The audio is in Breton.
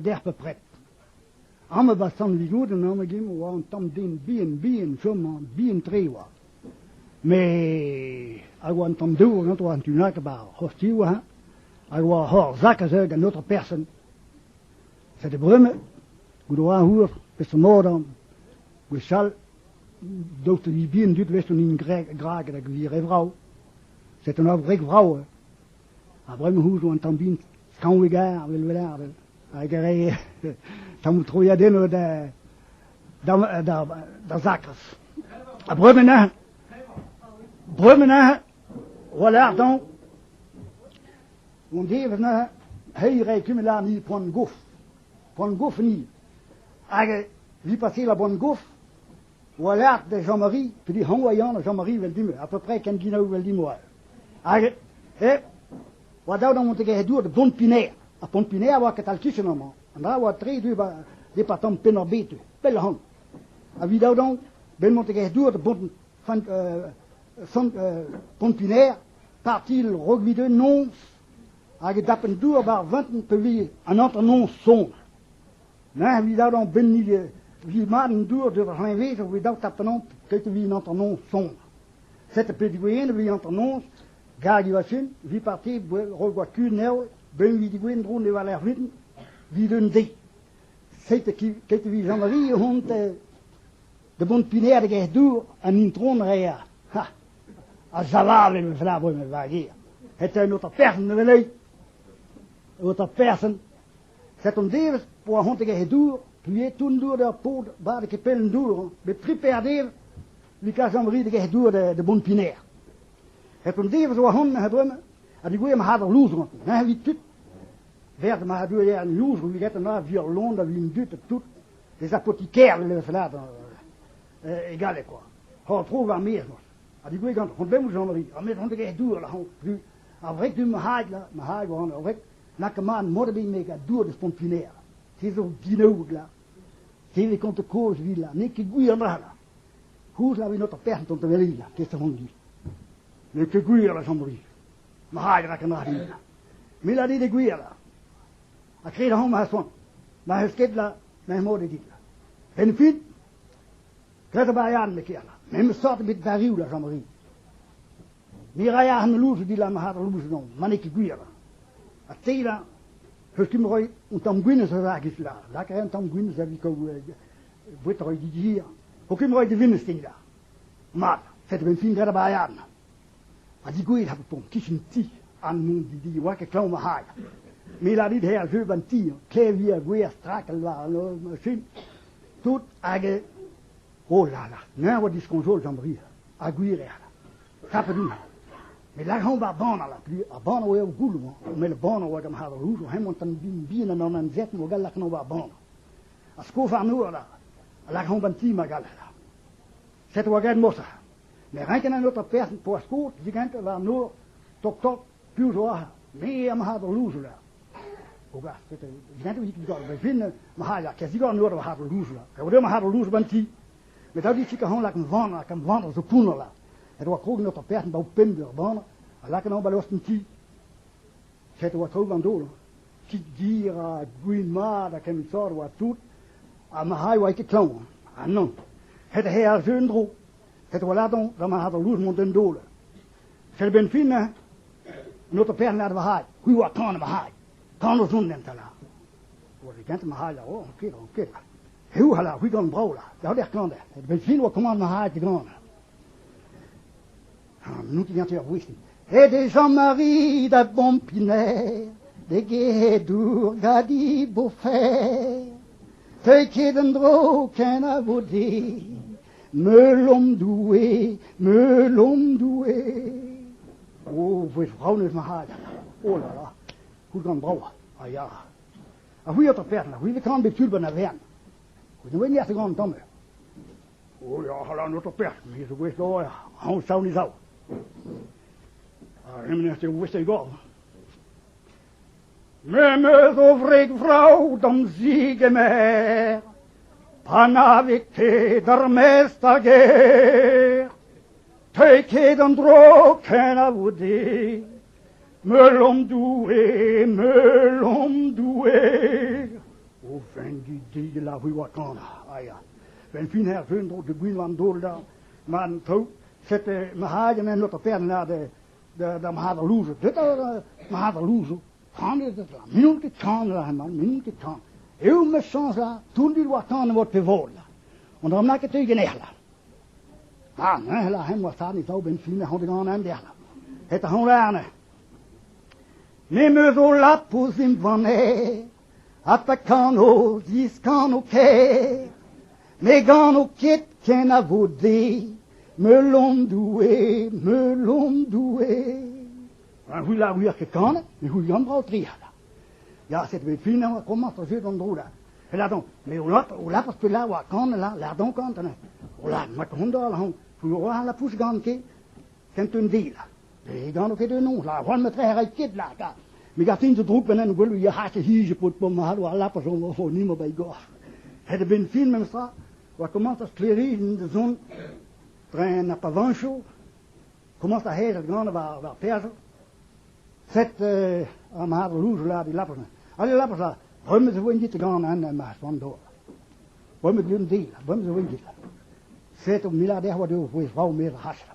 dec'h bepred. Amañ eo bet sant-Vigod an anv-gemm a oa un tamm den bihan-bihan chomañ, bihan-tre e oa. Met hag oa un tamm dour ganto an tu-hont bar ar c'hostioù hañ, hag oa hor zak a-zeul gant aotre person. Sede brume, goude oa heur, peseurt-modañ, gwechall, daoust ha ni bihan tud 'vez hon hini greg- grag hag hon hini re vrav. C'est un abred vrav. Ha bremañ zo un tamm bin skañv egar, vel vel hag re tamm troiadennoù da da da da zakras. Ha bremañ bremañ voilà donc on dit maintenant hey re comme là ni prend gouf prend gouf ni hag ni passer la bonne gouf war-lerc'h da Jean-Marie, pe d'e anv a ya da Jean-Marie evel-dimp, apeupre ken ginaou evel-dimp holl. Hag hep oa dav d'an montegezh-dour da Pont-Pinaer. Ha Pont-Pinaer a oa ketal-kichen amañ. An dra a oa tre deuet ba departamant Penn-ar-Bed, pell-ahont. Evit dav dezhañ benn montegezh-dour da Bont Fan- euh, Sant- euh, Pont-Pinaer, parti Rogvide noz, hag e dapent dour war vintin pa vije an hanternoz sonn. Neñ evit adanv benniñ vi mat an dour d'ur c'hleñved a voe daou tapennoù ket evit hanternoz soñj. Setu pedigouenn evit hanternoz gag e vachin, vi parti roll goad kuñv Neol, ben evit digouenn dro ne weler vin, evit un deiz. Setu ket evit Jean-Marie o c'hont da bont piner da gêr dour an intron Rea. Ha, ha zaval em eus labour em vager. Eta un otra person da welet, un otra person, Set' an devezh po ar c'hontegezh e dour, puilhet toun dour d'ur paotr badek e pell an dour, met tri paer devezh likaj Amri da gec'h dour da bont Piner. Hep an devezh zo ahont neuze bremañ ha digouez ma c'had ar louzr gant. Neuze evit tud, vert ma dour eo an louzr viget an ar vuoc'h lon da vin dud tout, des apotikaires le fellat e galleg quoi. Hor tro war mes Ha digouez gant c'hont bemoù Jean-Marie, ar met c'hont da gec'h dour la c'hont. Ar vreg du ma haig la, ma haig war an vreg, Laka mat Morbinek ha dour eus Pontpunair. Te zo ginaoug, la. Te ne konto kozh evit, la. N'eo ket gwir, la, la. Koulz la venot ar person ton teveli, la. Kez da vont du. N'eo ket gwir, la, Jean-Marie. Ma rai rak an arin, la. Me la dit e gwir, la. Ha kred ahon ma soan. Ma eus ket, la. Ma mod e dit, la. En fin, Petra a ran, me kerna? Memes sort ebet d'arrioù, la Jean-Marie. Me ray ac'h an louzoù dilam ar c'har louzoù-non, ma n'eo ket gwir. Ha te, la, eus tu roy un tamm gwin eus a vagis, la. Lak a ran un tamm gwin eus a vikaoù bouet roy didir. Pokin roy de vimez te, la. Mat, fet ben fin gret a bayan. Ha digouet hap pont kichen ti, an moun didi, oa ket klav ma c'hai. Me la dit her jeu ban ti, klevi a gwer strak al war an oll machin, Tout hag eo. Oh la la, neñ a oa diskoñjol d'am bri, ha gwir eo. Tapet on. Me lakaomp ar bann a la pli, ar bann a oa er goulou-mañ, met ar bann a oa gant harlouz, o hemañ tan bihan an anezet o gal lakaomp ar bann. A sko warno a la, a lakaomp an ti ma gal la. Setu hag ed mosa. Me renken an ôtre person poa skot digant war nor tok-tok Piv zo aze? Me ha ma c'had louzoula. O gas, dinam dit digor be vin, ma c'had a kes digor nor ma c'had louzoula. E oa ma c'had louzoula ban ti. Met da dit kahan lak an van, hag an van a zo pounner la. Et oa krog nor ta perc'hen ba o pemp ur ban, a lak an ba losten ti. Set oa traoù gant dol. Kit gir ha gwin mat ha kement sort oa tout, ha ma c'had oa ket klañv. Ha non. Het he ar zeu en dro. Het oa ladon da ma c'had louzoula mont d'en dol. Felbenn finnañ, an auto pernad va c'hailh, c'hwi oa tan va c'hailh, tan o zont enta la. Oa digent ma c'hailh a-raok, ran ket, ran ket. Heu ala, c'hwi gant brav la, da ober klander, et vel fin oa kommand ma c'hailh digant. Ah, n'out ket ganti ur vouch din. Et e Jean-Marie da Bompiner, d'e gedour gadi bofer. Teuit ket en-dro kenavo di, Meulom Doue, meulom Doue! O, vouez vraonez-mat! Oh là là! Koulgan brao, a ya. A c'hwi eo 'ta perl, a c'hwi ve karan bet tud ba'n Avern. Koun ouen ec'h gant tamm. O, ya, hala, n'o to perl, me zo gouez dor, aon sav ni sav. A remen ez eo ouest e gorv. Me 'm eus o wreg vrav d'am zigemer, panavit-te d'ar maez d'ar gêr. Teuit ket en-dro kenavo dit, meulon Doue, meulon Doue. O vengi dig la rue Wakana, a ya. Vel fin er vun dro de Gwinland-Dola, man tau, sete ma hagen en ot a pern lade, D'am c'hadr-louzoù, petra eo ma c'hadr-louzoù? Kanet eo mat, n'int ket kanet hemañ, n'int ket kanet. Eo ma soñj la, toullit war tan e mod pe vod la. An dra bennak e teuy ganeoc'h la. Ah, neuze la, hemañ war tad e zaou benn fin, ec'h on ganen dec'h la. Eta hoñ la neuze. Me 'm eus o lap ouzh im vanne. Ha pa kano, diskano ker, ne gano ket kenavo Doue, meulon Doue, meulon Doue. Ha c'hwi la wir ket kanet, me c'hwi gant brao tri ala. Ya, set bet finañ a komañs o jeu d'an dro la. E ladon, me o lap, o lapas pe la oa kan la, ladon kan, tana. O la, ma kondor la hon, pou oa la pouch gan ke, kent un di la. Ne gano ket enon, la c'hoant ma trec'h ket la ta. Me gatin zo drouk ben en gwelou yac'h e hije pod pom ma halo ar lap a zo zo ni ma bai gor. Het e ben fin memes tra, oa commence a skleriz da zon tren a pavancho, commence a hed at gant var, var perzo, set euh, a mar louge la di lapon. Ale lapon la, remet zo ven dit gant an ma spandor. Remet gum di, remet zo ven dit la. Set o milader wa de o vouez rau mer hash la.